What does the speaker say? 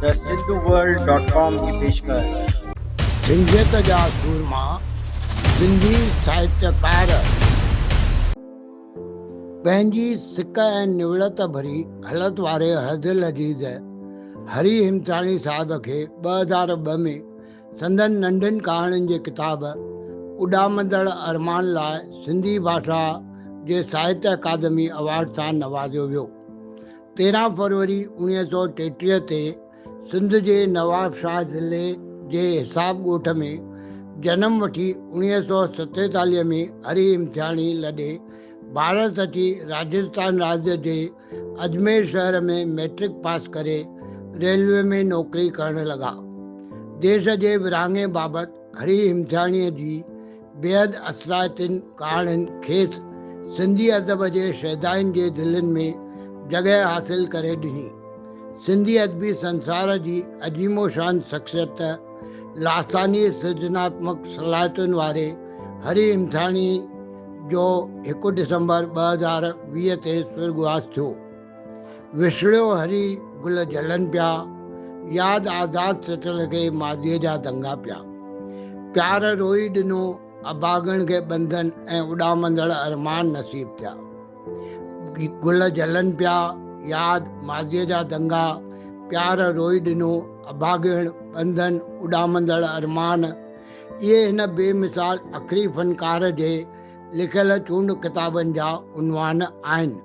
ته Sindhu world dot com جي پيشڪش. سنڌيت جا سورما سنڌي ساهتيڪار پنهنجي سڪ ۽ نوڙت ڀري هلت واري حد لذيذ هري هيمٿراڻي صاحب کي ٻه هزار ٻه ۾ سندن ننڍين ڪهاڻين جي ڪتاب اڏامندڙ ارمان لاء سنڌي ڀاشا جي ساهتيه اڪادمي ايوارڊ سان نوازيو ويو. تيرهن فروري اوڻيهه سؤ ٽيٽيهه تي سنڌ جي نواب شاهه ضلعي جي حساب ڳوٺ ۾ جنم وٺي اوڻيهه سؤ ستيتاليهه ۾ هري امتياڻي لڏي ڀارت اچي راجستان راڄ جي اجمير شهر ۾ مئٽرڪ پاس ڪري ريلوي ۾ نوڪري ڪرڻ لڳا. ديس جي ورهاڱي بابت هري امتياڻيء جي بيحد اثرائتين ڪهاڻين کيس سنڌي ادب جي شيدائين جي دلين ۾ جڳهه حاصل ڪري ڏني. سنڌي ادبي سنسار جي عظيم و شان شخصيت ته لاثاني سرجناتمڪ صلاحيتن واري هري همٿاڻي جو هڪ ڊسمبر ٻه هزار ويهه تي سرڳواس ٿيو. وسڙيو هري گل جلن پيا، ياد آزاد سٽ لڳي ماضيء جا دنگا پيا. پيار روئي ڏنو اڀاڳڻ کي ٻنڌن ۽ اڏامندڙ ارمان نصيب ٿيا. گل جلن پيا، ياد ماضيء جا دنگا پيار روئي ڏنو اڀاڳڻ ٻنڌن اڏامندڙ ارمان اهي هن بي مثال اکري فنڪار جي لکيل چونڊ ڪتابن جا عنوان آهن.